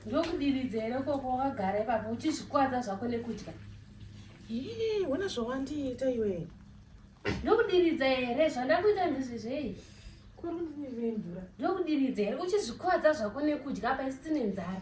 ndokudiridzeere koko wakagara ipapo uchizvikwadza zvako nekudya ii wona zvawandiita iwe ndokudiridza here zvandakuita ndizvezvei ndokudiridza here uchizvikwadza zvako nekudya paisiti nenzara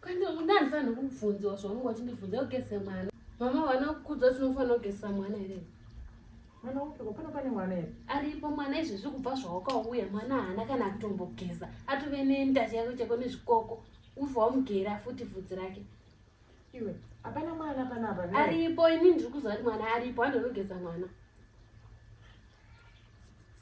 Kana una anofanirwa kubvunziwa zvaunenge wachindibvunza kugeza mwana. Mama wana kukudzwa tinofanira kugeza mwana here? Mwana upiko pano pane mwana here? Aripo mwana izvezvi kubva zvawakauya mwana haana kana kutombogeza atove nenda chako chako nezvikoko ubva wamugera futi vhudzi rake. Iwe hapana mwana panapa. Aripo ini ndiri kuziva kuti mwana aripo anogeza mwana.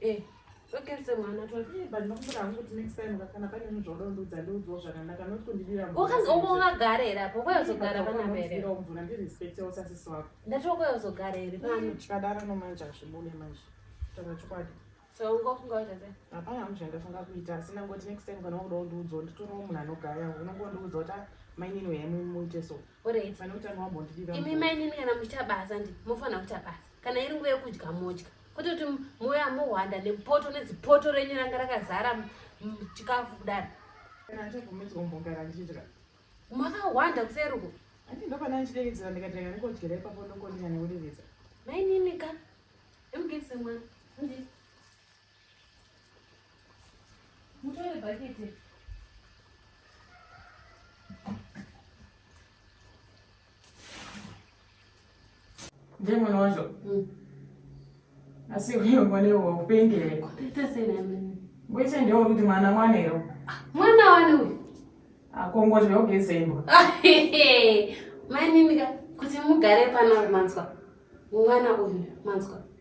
Eh, wakanzi ongogara here apo kwayozogara panamere ndatoka yozogara here panochikadaranomanje so ungofunga waita sei hapana munhu zvandafunga kuita asi ndangoti next time kana wakuda kundiudzawo nditorawo munhu anogaya unongondiudza kuti ah, mainini uyai muite so Alright. Kana utanga wambondidira. Imi mai nini kana muchita basa ndi mofana kuita basa. Kana iri nguva yekudya modya. Kuti kuti moya mohwanda nepoto nezipoto renyu ranga rakazara chikafu kudaro. Kana chobvumidzwa umbogara ndichidya. Makahwanda kuseruko. Andi ndopana ndichidevedzera ndikatanga ndikodyera ipapo ndokondikana kudevedza. Mai nini ka. Emugese mwana. Ndi. Mutore bhaketi. Ndiye mwana wacho. Mm. Asi wewe mwana wewe upendi here? Kutete sena mimi. Ngoise ndio kuti mwana mwana ero. Ah, mwana wani uyu? Akongo zve ogezembo. Mai mimi ka kuti mugare pano manzwa. Mwana uyu manzwa.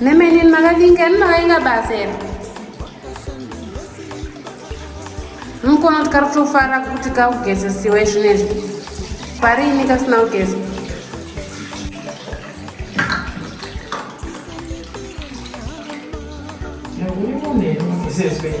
nemenini makalinga ini makainga basa ena mukono tikari kutofara kuti kaugezesiwe zvinezvi pari ini kasina kugeza This is big.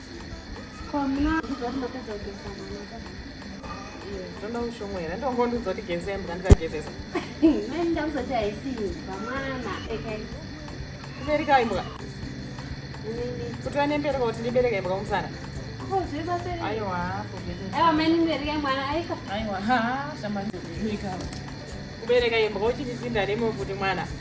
kubereka imbwa kuti vanembereka kuti ndibereka imbwa kumusana kubereka imbwa uchindisindane mokuti mwana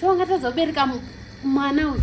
so ungatadza kubereka mwana uyu